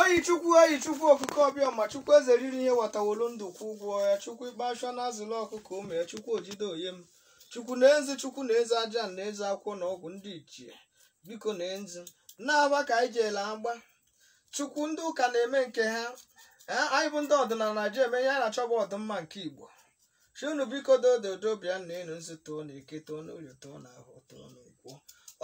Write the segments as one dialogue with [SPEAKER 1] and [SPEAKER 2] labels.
[SPEAKER 1] oyi chukwu oyi chukwu okike ọbịama chukwu eze riri ihe watawolu ndụ kwụ ụgwọ ya chukwu ikpe asha na-azụlụ ọkụkọ ụmụ ya chukwu ojide oye m chukwu na eze chukwu na eze aja na eze akwụkwọ na ọgwụ ndị ichie biko na enzi na-aba ka anyị jeela agba chukwu ndị ụka na-eme nke ha ee anyị bụ ndị ọdịnala na-eji eme ihe a na-achọ bụ ọdịmma nke igbo shi unu biko dododo bịa na enu nzu tụọ na eke tụọ na orie tụọ na ahọ tụọ na nkwọ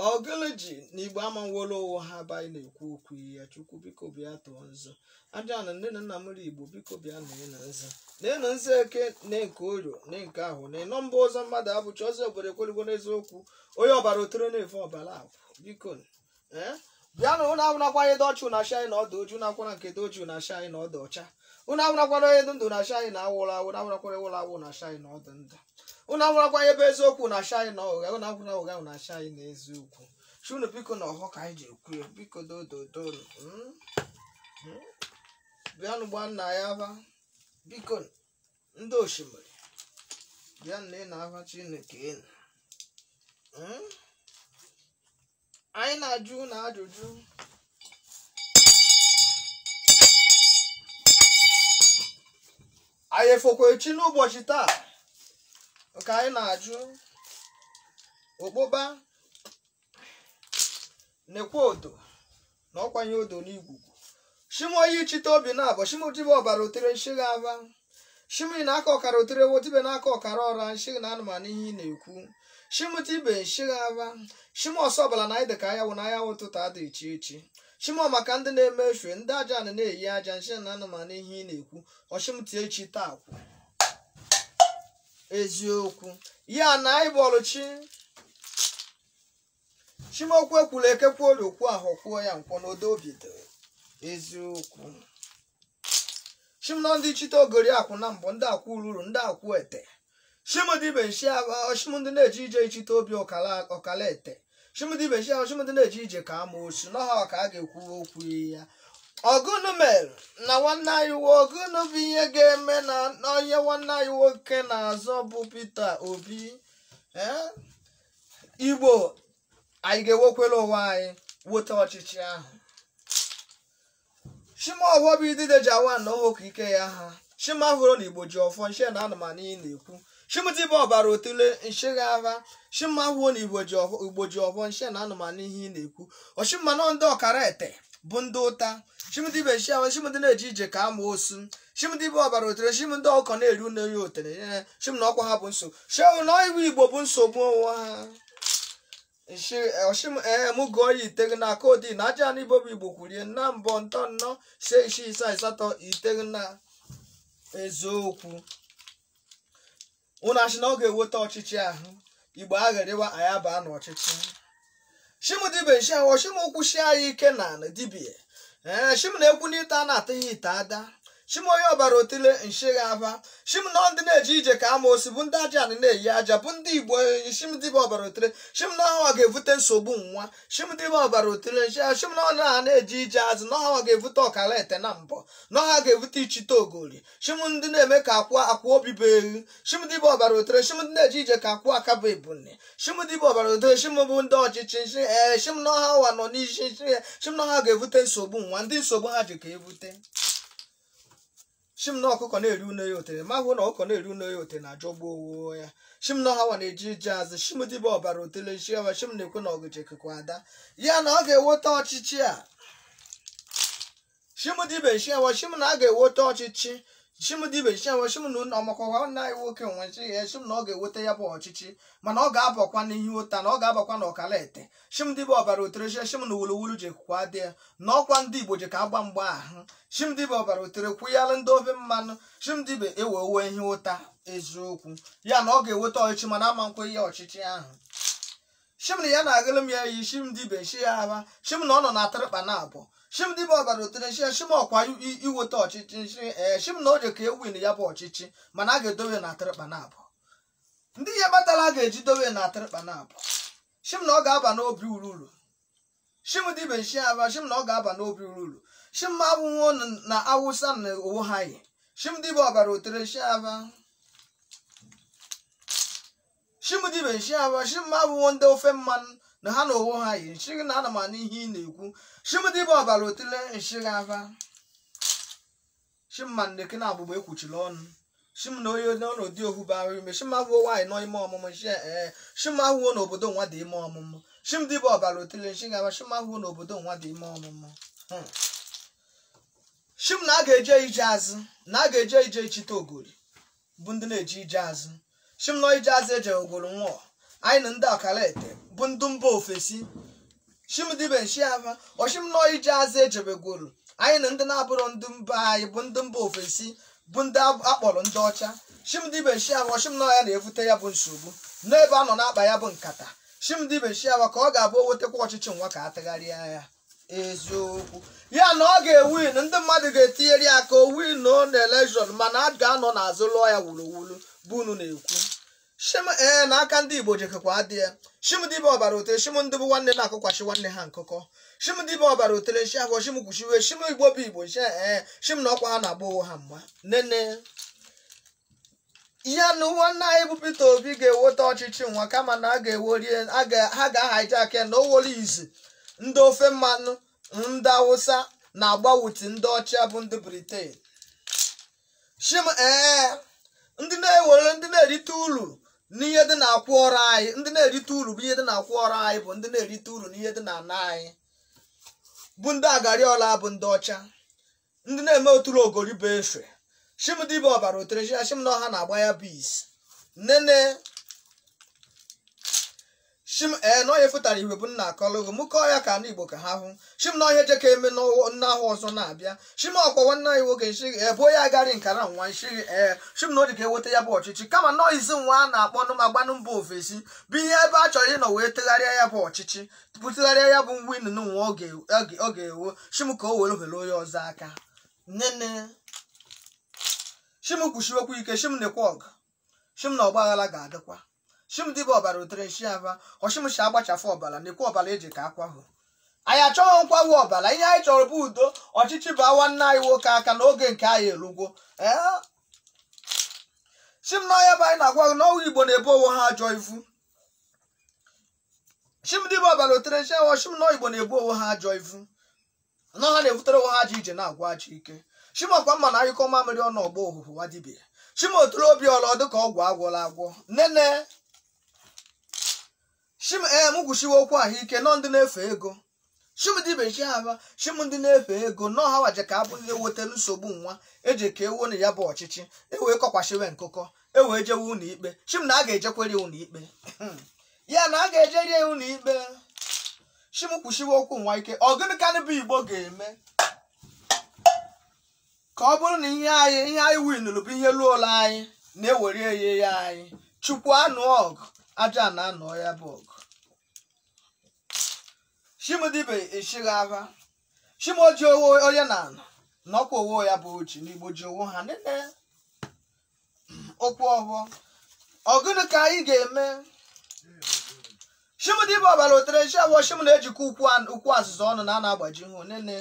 [SPEAKER 1] ọgụlụ ji na igbo amanwolo ụwa ha bụ anyị na-ekwu okwu ya chukwu biko bịa tụọ nzu aja na nne na nna m ri igbo biko bịa na enu nzu na enu nzu eke na nke orie na nke ahọ na ịnọ mba ụzọ mmadụ abụcha ọzọ obodo ekwelugo n'eziokwu onye ọbara otere na-efe ọbara akwụ biko ee bịa na ụnụ awụnakwa ihe dụ ọcha ụnụ ashi anyị na ọ dụ oji ụnụ akwara nke dụ oji ụnụ ashi anyị na ọ dụ ọcha ụnụ awụnakwara onye ndụ ụnụ ashi anyị na ọ nwụrụ anwụ ụnụ awụnakwara nwụrụ anwụ ụnụ ashi anyị na ọ dụ ndụ ụnụ awụrakwa ebe eziokwu ụnụ ashi anyị na ụgha ụnụ awụna ụgha ụnụ ashi anyị na eziokwu shi ụnụ biko na ọhọ ka anyị ji ekwu ya biko dododo bịanụ gba nna ya aba biko ndị osimiri bịa na ị na-agwa chineke enu Mm? anyị na-ajụ unu ajụjụ anyị efokwa echi n'ụbọchị taa ka anyị na-ajụ ụkpụkpa nekwa odo na ọkwanye odo n'igwugwu shi m oyi ijite obi na abọ shi m tibe ọbara otere m shi gị ava shi m na aka ọkara otere wo tibe na aka ọkara ọra m shi gị na anụ m anụ ihe ị na-ekwu shi m tibe m shi gị ava shi m ose ọbara na anyị dị ka anyanwụ na anyanwụ ụtụtụ adị iche iche shi m ọ maka ndị na-eme efe ndị aja na na-eyi aja m shi gị na anụ m anụ ihe ị na-ekwu ọ shi m tie echi taa kwụ eziokwu ya na anyị bọọlụ chi shi m okwu ekwula eke kwu orie kwu ahọ kwuo ya nkwọ n'odo obi dị eziokwu shi m na ọ ndị ijite ogori akwụ na abọ ndị akwụ ururu ndị akwụ ete shi m tibe m shi agha shi m ndị na-eje ije ijite obi ọkala ọkala ete shi m tibe chi ahụ shi m ndị na-eje ije ka ama osu n'ọha ka a ga-ekwu okwu ya ọgụnụ mere na nwanne anyị wo ọgụnụ bụ ihe ga-eme na onye nwanne anyị nwoke na-azọ bụ Peter Obi ee Igbo anyị ga-ewekwere onwe anyị weta ọchịchị ahụ shim ọfọ bụ idide ji awa ana ọhụụ ka ike ya ha shima hụrụ na igbo ji ọfọ nshi na ana m anụ ihe ị na-ekwu shimdibe ọbara otule nshigha aba shima hụọ na igbo ji ọfọ igbo ji ọfọ nshi na ana m anụ ihe ị na-ekwu shim manụ ndị ọkara ete bụ ndị ụta shimdibe nshi ahụ shim ndị na-eje ije ka ama osu shimdibe ọbara otule shim na ọkụkọ na-eri une ya otele ee, shim na ọkwa ha bụ nsogbu shewụ na iwu igbo bụ nsogbu onwe ha shim ee m gụọ ya iteghi na kodi na aja na ibobo igbo kwurie na mbọ ntọ nnọ ise isii asaa asatọ iteghi na eziokwu unu ashị na ọ ga-eweta ọchịchị ahụ igbo agharịwa anyị abaa n'ọchịchị shimdibe nshi ahụ shim kwụshi anyị ike na dibịa ee shim na-ekwu n'ite a na-atụ ya ite ada shim onye ọbara otile nshigha aba shim na ndị na-eje ije ka ama osi bụ ndị aja anị na-eyi aja bụ ndị igbo enyi shim dịba ọbara otile shim na ọha ga-evute nsogbu nwa shim dịba ọbara otile nshi shim na ọha na-eje ije azụ na ọha ga-evute ọkara ete na mbọ na ọha ga-evute ichite ogori shim ndị na-eme ka akwa akwa obi bụ ewu shim dịba ọbara otile shim ndị na-eje ije ka akwa aka bụ ebune shim dịba ọbara otile shim bụ ndị ọchịchị nshi ee shim na ọha ụwa nọ n'isi nshi shim na ọha ga-evute nsogbu nwa ndị nsogbu ha ji ka evute si m na ọkụkọ na-eri une ya otere ma hụ na ọkụkọ na-eri une ya otere na-ajọgbu onwo ya si m na ọ hanwa na-eje ije azụ si m dịbe ọbara otele si ya si m na-ekwe na ọgụje kekwa ada ya na ọ ga-eweta ọchịchị a si m dịbe si ya si m na a ga-eweta ọchịchị si m dịbe si ya si m na ụlọ ọmakọwa nna anyị nwoke nwe si ya si m na ọ ga-eweta ya bụ ọchịchị mana ọ ga-abakwa n'ihe ụta na ọ ga-abakwa na ọkala ete shim ndị bụ ọbara otere shie shim na wuluwulu ji kwụkwa dị ya na ọkwa ndị igbo ji ka agba mgba ahụ shim ndị bụ ọbara otere kwụyalụ ndị ofe mmanụ shim ndị bụ ewe uwe ihe ụta eziokwu ya na ọ ga-eweta ọchịchị mana ama ekwe ya ọchịchị ahụ shim na ya na-agụlụ m ya iyi shim ndị be shi ya aba shim na ọ nọ na atịrịkpa na abụọ shim ndị bụ ọbara otere shie shim ọkwa i- iweta ọchịchị shi ee shim na o ji ka ewin ya bụ ọchịchị mana a ga-edowe na atịrịkpa na abụọ ndị ihe batala ga-eji dowe na atịrịkpa na abụọ shim na ọ ga-aba n'obi ururu shim dibe nshi aba shim na ọ ga-aba n'obi ururu shim ma abụnwo na awụsa na onwo ha yi shim dibe ọbara otere nshi aba shim dibe nshi aba shim ma abụnwo ndị ofe mmanụ na ha na onwo ha yi nshi gị na ana m anụ ihe ị na-ekwu shim dibe ọbara otele nshi gị aba shim ma nneke na agbụgba ekwuchila ọnụ shim na onye n'ọnọdụ ohu bara ime shim ahụọ nwaanyị nọ ime ọmụmụ shi ee shim ahụọ n'obodo nwa dị ime ọmụmụ shim dibe ọbara otile nshi gaba shim ahụọ n'obodo nwa dị ime ọmụmụ Hmm. shim na a ga-eje ije azụ na a ga-eje ije ichite ogori bụ ndị na-eje ije azụ shim nọ ije azụ ejegworo nwa anyị na ndị ọkara ete bụ ndị mba ofesi shim dibe nshi aba ọ shim nọ ije azụ ejebegworo anyị na ndị na-abụrọ ndị mba anyị bụ ndị mba ofesi bụ ndị ab- akpọrọ ndị ọcha shim dibe nshi aba ọ shim na ọ ya na-evute ya bụ nsogbu n'ebe a nọ na-akpa ya bụ nkata shim dibe nshi aba ka ọ ga-abụ o wetakwa ọchịchị nwa ka a tagharịa ya eziokwu ya na ọ ga-ewin ndị mmadụ ga-etinyere ya ka o win na elekshọn mana a ga-anọ n'azụ lụọ ya wuruwuru bụ unu na-ekwu shim ee na aka ndị Igbo jekekwa adị ya shim dibe ọbara otere shim ndị bụ nwanne na-akụkwachi nwanne ha nkụkọ shim dibe ọbara otere nshi afọ shim kwuchiwe shim Igbo bụ Igbo nshi ee shim na ọkwa ha na-agba onwe ha mgba nene ya na nwanne anyị bụ Peter Obi ga-eweta ọchịchị nwa kama na a ga-ewori ha ga-ahijack ya na owere izi ndị ofe mmanụ ndị Awụsa na agbawuti ndị ọcha bụ ndị Britain shim ee ndị na-ewere ndị na-erite uru n'ihe dị na-akwụ ọrụ anyị ndị na-erite uru bụ ihe dị na-akwụ ọrụ anyị bụ ndị na-erite uru n'ihe dị na ana anyị bụ ndị agari ọla bụ ndị ọcha ndị na-eme oturu ogori bụ efe shim dibe ọbara otere nshi aba shim na ọ ha na-agba ya bụ isi nene shim ee na ọ ihe fụtara ihe bụ nna akọlụgo mụ kọọ ya ka ndị Igbo ka ha hụ shim na ọ ihe jeka eme n'ahọ ọzọ na-abịa shim ọkwa nwanne anyị nwoke nshighi ee bụ onye agarị nkara nwa nshighi ee shim na o jeka eweta ya bụ ọchịchị kama na ọ izi nwa a na-akpọ nụ ma gbanụ mba ofesi bụ ihe ebe a chọrọ ịnọ wee tegharịa ya bụ ọchịchị bụ tụgharịa ya bụ winụ nwa ọ ga- ọ ga- ọ ga-ewin shim ka o were ohere onye ọzọ aka nene shim kwuchiwekwu ike shim nekwa ọgụ shim na ọgba aghara ga-adịkwa shim dịbe ọbara otere nshi aba ọ shim shi agbachafụ ọbara nekwa ọbara e jeka akwahu anyị achọghị nkwahu ọbara ihe anyị chọrọ bụ udo ọchịchị baa nwanne anyị nwoke aka na oge nke anyị erugwo ee shim na ọ ya bụ anyị na-agwa gị na ụmụ Igbo na-ebu onwe ha ajọ ivu shim dibe ọbara otere nshi aba shim na Igbo na-ebu onwe ha ajọ ivu na ha na-ebutere onwe ha ajọ ije na-agwa ajọ ike shim ọkwa mma na anyụkọọ mamịrị ọnụ ọ gbọọ ụhụhụ nwa dibia shim oturu obi ọlọ dịka ọgwụ agwọla agwọ nene shim ee m kwuchiwe okwu ahụ ike nọ ndị na-efe ego shim dibe nshi aba shim ndị na-efe ego na ọ ha wa jeka abụ ewetelu nsogbu nwa jeka ewu na ya bụ ọchịchị ewee kọkwashiwe nkụkọ ewee jewe ụlọ ikpe shim na a ga-ejekwere ụlọ ikpe ya na a ga-ejeri ya ụlọ ikpe shim kwụshiwe okwu nwa ike ọ gịnị ka ndị Igbo ga-eme ka ọ bụrụ na ihe anyị ihe anyị winụrụ bụ ihe ruulu anyị na e were eye ya anyị Chukwu anụọ ọgụ a ja na-anụ ya bụ ọgụ shim dibe ishighị ava shim oji onwo onye na anọ na ọkwa onwo ya bụ oji n'igbo ji onwo ha nene okwu ọhụọ ọ gụnụ ka anyị ga-eme shim dibe ọbara otere shi ava shim na-ejikọ ukwu an- ukwu azụza ọnụ na a na-agbajihụ nene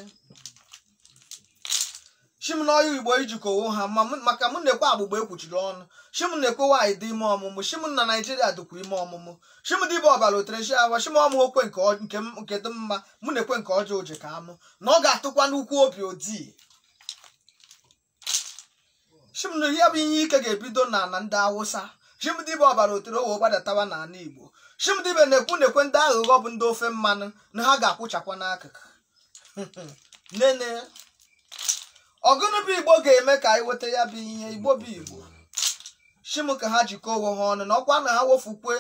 [SPEAKER 1] shim na ọ ya igbo ijikọ onwo ha ma mụ- maka mụ nekwe agbụgba ekwuchiri ọnụ shim nekwe nwaanyị dị ime ọmụmụ shim na naijiria dịkwa ime ọmụmụ shim dibe ọbara otere shi ava shim ọ mụkwe nke ọ- nke m- nke dị mma mụ nekwe nke ọjọọ o je ka amụ na ọ ga-atụkwa n'ukwu obi odii shim na ya bụ ihe ike ga-ebido na na ndị awụsa shim dibe ọbara otere o wee gbadatawa n'ala igbo shim dibe na-ekwu nekwe ndị aghụghọ bụ ndị ofe mmanụ na ha ga-akwụchakwa n'akụkụ nene ọ gụnụ bụ igbo ga-eme ka anyị weta ya bụ ihe igbo bụ igbo shim ka ha jikọọ onwe ha ọnụ na ọkwa na ha wefukwe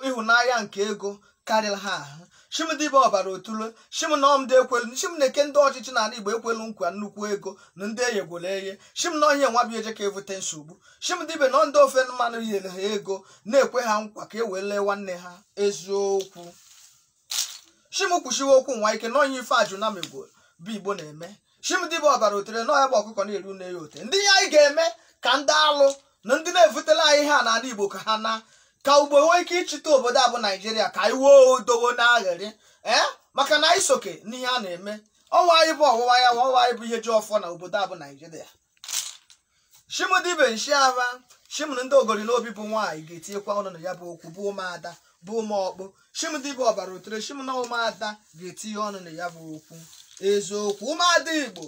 [SPEAKER 1] ịhụnanya nke ego karịrị ha ahụ shim dịbe ọbara otule shim na ọ ndị e kwelu shim nekwe ndị ọchịchị n'ala igbo e kwelu nkwa nnukwu ego na ndị e yegoro eye shim na ọ ihe nwa bụ eje ka evute nsogbu shim dịbe na ndị ofe mmanụ yere ha ego na-ekwe ha nkwa ka e wee lee nwanne ha eziokwu shim kwushiwe okwu nwa ike na onye ife ajụ na megoro bụ igbo na-eme shim dibe ọbara otere na ọ ya bụ ọkụkọ na-eru nne ya ote ndị ihe anyị ga-eme ka ndị alụ na ndị na-evutela anyị ha n'ala igbo ka ha na ka igbo nwee ike ịchịta obodo a bụ naijiria ka anyị wee odowo n'aghịrị ee maka na anyị sokwe n'ihe a na-eme ọnwa anyị bụ ọwụwa anyanwụ anyị bụ ihe ji ọfọ na obodo a bụ naijiria shim dibe nshi ava shim na ndị ogori n'obi bụ nwaanyị ga-etinyekwa ọnụ na ya bụ okwu bụ ụmụada bụ ụmụọkpụ shim dibe ọbara otere shim na ụmụada ga-etinye ọnụ na ya bụ okwu eziokwu ụmụada igbo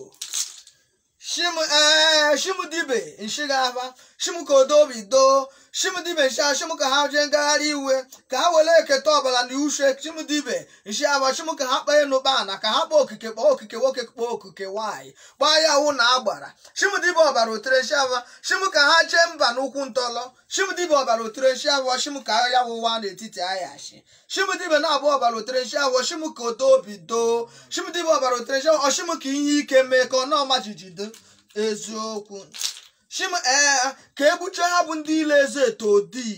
[SPEAKER 1] shim ee shim dibe nshi ga-ava shim ka odo obi doo shim dibe nshi ava shim ka ha jee ngagharị iwe ka ha were eketa ọbara na ushe shim dibe nshi ga-ava shim ka ha kpọọ enu kpọọ ana ka ha kpọọ okike kpọọ okike nwoke kpọọ okike nwaanyị kpọọ anyanwụ na agbara shim dibe ọbara otere nshi ava shim ka ha jee mba n'ụkwụ ntọlọ shim dibe ọbara otere nshi ava shim ka anyanwụ waa n'etiti anyashị shim dibe na-abụ ọbara otere nshi ava shim ka odo obi doo shim dibe ọbara otere nshi ava shim ka ihe ike mee ka ana maa jijiji eziokwu shim ee ka egbuchie ha bụ ndị ile eze eto odi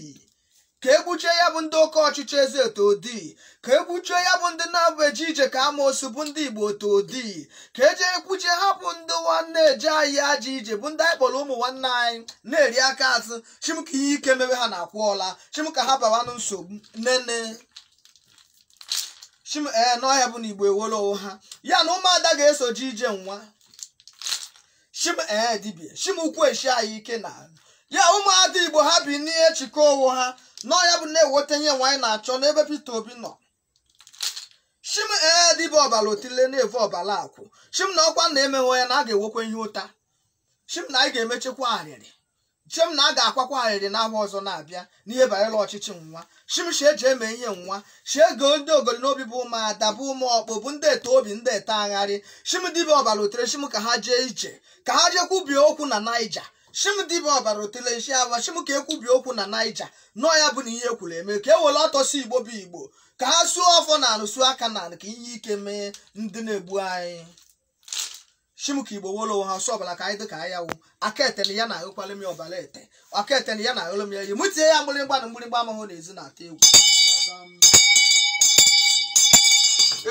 [SPEAKER 1] ka egbuchie ya bụ ndị oke ọchịchị eze eto odi ka egbuchie ya bụ ndị na-abụ eje ije ka amoosu bụ ndị igbo eto odi ka eje egbuchie ha bụ ndị nwanne eje anyị ajọ ije bụ ndị anyị kpọrọ ụmụ nwanne anyị na-eri aka azụ shim ka ihe ike mebe ha na-akwụ ọla shim ka ha bawanụ nsogbu nene shim ee na ọ ya bụ na igbo ewere onwe ha ya na ụmụada ga-eso jee ije nwa shim ee dibia shim kwueshi anyị ike na ya ụmụada igbo ha binie chịkọọ onwe ha nọ ya bụ na-eweta ihe nwa anyị na-achọ n'ebe Peter Obi nọ shim ee dibia ọbala otile na-evu ọbala akwụ shim na ọkwa na emehụ ya na a ga-ewekwa ihe ụta shim na anyị ga-emechekwa arịrị shim na a ga-akwakwa arịrị n'ahọ ọzọ na-abịa n'ihe banyere ọchịchị nwa shim shi eji eme ihe nwa shi ego ndị ogori n'obi bụ ụmụ ada bụ ụmụ ọkpụ bụ ndị ete obi ndị ete agharị shim dibia ọbara otule shim ka ha jee ije ka ha jee kwubie okwu na naija shim dibia ọbara otule nshi ava shim ka ekwubie okwu na naija nọọ ya bụ na ihe ekwuru eme ka e were ọtọsi igbo bụ igbo ka ha suo ọfọ na anị suo aka na anị ka ihe ike mee ndị na-egbu anyị shim ka igbo wolo ha ọsọ ọbala ka anyị dị ka anyị awụ aka ete na ya na ahụkwala m ya ọbala ete aka ete na ya na ahụlụ m ya yi mụ tinye ya mgbịrịgba na mgbịrịgba amahụ na ezi na-atụ egwu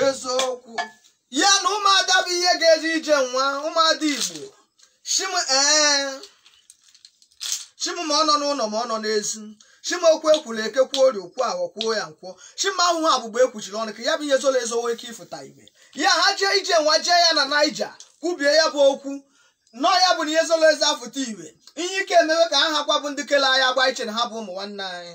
[SPEAKER 1] eziokwu ya na ụmụada bụ ihe ga-eje ije nwa ụmụada igbo Shim ee Shim ma ọ nọ n'ụlọ ma ọ nọ n'ezi Shim okwu ekwuru eke kwuo orie kwuo ahọ kwuo ya nkwọ Shim ahụhụ abụgba ekwuchiri ọnụ ka ya bụ ihe zoro ezo nwee ike ịfụta ihe ya ha jee ije nwa jee ya na Naija kwubie ya bụ okwu nọ ya bụ na ihe zoro ezo afụta ihe ihe ike emewe ka ha hakwa bụ ndị kele anyị agbụ iche na ha bụ ụmụ nwanne anyị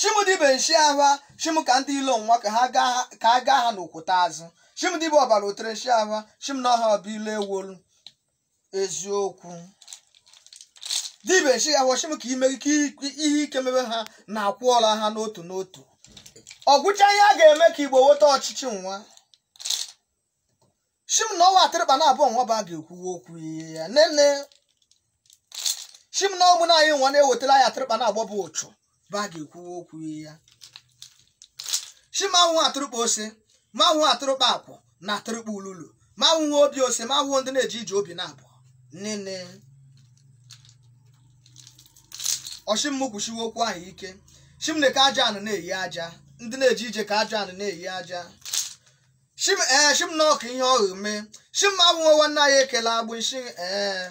[SPEAKER 1] shim dibia nshi ava shim ka ndị ilo nwa ka ha gaa ha- ka a gaa ha n'okwute azụ shim dibia ọbara otule nshi ava shim na ọha ọbụ ilo ewolu eziokwu dibia nshi ava shim ka ime ka ihe ike mebe ha na akwụọla ha n'otu n'otu ọgwụcha ihe a ga-eme ka igbo nweta ọchịchị nwa shim na ọwa atụrụkpa naabọ nwa ba ga-ekwuwe okwu ya nene shim na ọmụ na anyị nwa na-ewetara anyị atụrụkpa naabọ bụ ụchụ ba ga-ekwuwe okwu ya shim ahụhụ atụrụkpa ose ma ahụhụ atụrụkpa akwụ na atụrụkpa ululu ma ahụhụ obi ose ma ahụhụ ndị na-eje ije obi naabọ nene ọ shim kwushiwe okwu ahụ ike shim na ka aja anị na-eyi aja ndị na-eje ije ka aja anị na-eyi aja shim ee shim na ọka ihe ọghụ mee shim abụghị nwanne anyị ekele agbụ nshi ee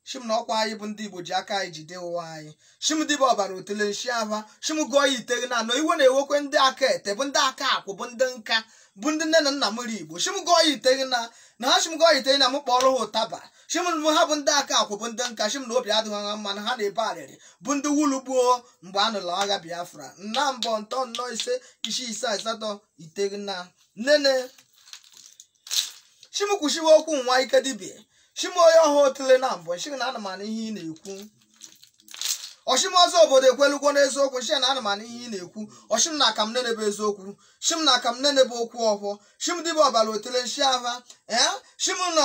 [SPEAKER 1] shim na ọkwa anyị bụ ndị igbo ji aka anyị jide ụwa anyị shim dibia ọbara otule nshi ava shim gụọ ya iteghi na na iwe na-ewekwa ndị aka ete bụ ndị aka akwụ bụ ndị nka bụ ndị nne na nna mụrụ igbo shim gụọ ya iteghi na na ha shim gụọ ya iteghi na m kpọrọ ha ụtaba shim bụ ha bụ ndị aka akwụ bụ ndị nka shim na obi adịghị ha mma na ha na-ebe arịrị bụ ndị wulu gbuo mgbe a nụrụ agha biafra nna mbọ ntọ nnọ ise isi isaa asatọ iteghi na nene shim kwushiwe okwu nwa ike dibia shim onye ọha otule na mbọ m shị na ana m anụ ihe ị na-ekwu ọ shim ọzọ obodo ekwelugwo n'eziokwu m shị na ana m anụ ihe ị na-ekwu ọ shim na akam nene bụ eziokwu shim na akam nene bụ okwu ọhụọ shim dibia ọbara otule nshi ava ee shim na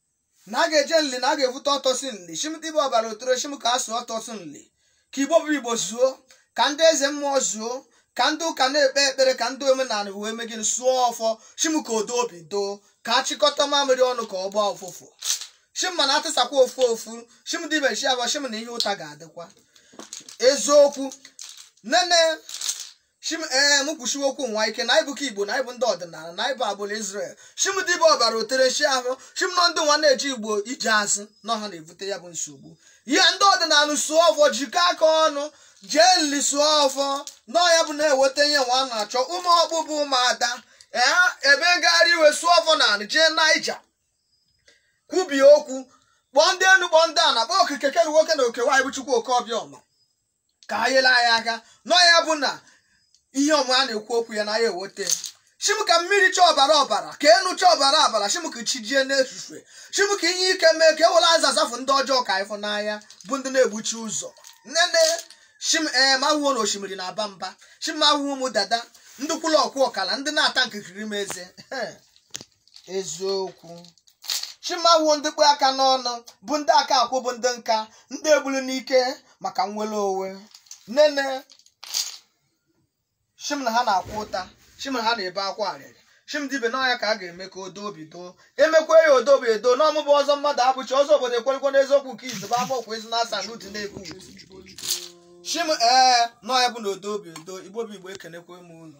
[SPEAKER 1] na a ga-eje nli na a ga-evute ọtọsi nli shim dibe ọbara otoro shim ka a sụọ ọtọsi nli ka igbo bụ igbo zuo ka ndị eze mmụọ zuo ka ndị ụka na-ekpe ekpere ka ndị omenala wee mee gịnị sụọ ọfọ shim ka odo obi doo ka a chịkọta mamịrị ọnụ ka ọ gbaa ụfụfụ shim mana a tisakwa ofu ofu shim dibe shi abụọ shim na ihe ụta ga-adịkwa eziokwu nene shim ee m kwushiwe okwu nwa ike na ịbụ ka igbo na ịbụ ndị ọdịnala na ịbụ agbụrụ israel shim dibe ọbara otere nshi ahụ shim nọ ndị nwa na-eji igbo ije asị nọ ha na-ebute ya bụ nsogbu ihe ndị ọdịnala sụọ ọfọ jikọ aka ọnụ jee nli sụọ ọfọ nọ ya bụ na-eweta ihe nwa a na-achọ ụmụ ọkpụ bụ ụmụada ee ebe ngagharị iwe sụọ ọfọ n'anị jee naija kwubie okwu kpọọ ndị enu kpọọ ndị ana kpọọ okike keru nwoke na oke nwaanyị bụ chukwu oke obi ọma ka ha nyere anyị aka nọ ya bụ na ihe ọma a na-ekwu okwu ya na ya ewote shim ka mmiri chaa ọbara ọbara ka enu chaa ọbara ọbara shim ka chi jie n'efifie shim ka ihe ike mee ka e were aza zafụ ndị ọjọọ ka ị fụ n'anya bụ ndị na-egbuchi ụzọ nene shim ee m ahụ na osimiri na-aba mba shim m ahụ ụmụ dada ndị kwụlụ ọkwụ ọkala ndị na-ata nkirikiri m eze eziokwu shim ahụ ndị kpe aka n'ọnụ bụ ndị aka akwụ bụ ndị nka ndị e gburu n'ike maka nnwere onwe nene shim na ha na-akwa ụta shim na ha na-ebe akwa arịrị shim dibe nọ nya ka a ga-eme ka odo obi doo e mekwa ya odo obi edo nọ mụ bụ ọzọ mmadụ abụchi ọzọ obodo ekwerekwe n'eziokwu nke izibe amaokwu ezi na asa n'utu na-ekwu shim ee nọ nya bụ na odo obi edo igbo bụ igbo ekenekwe m ụnụ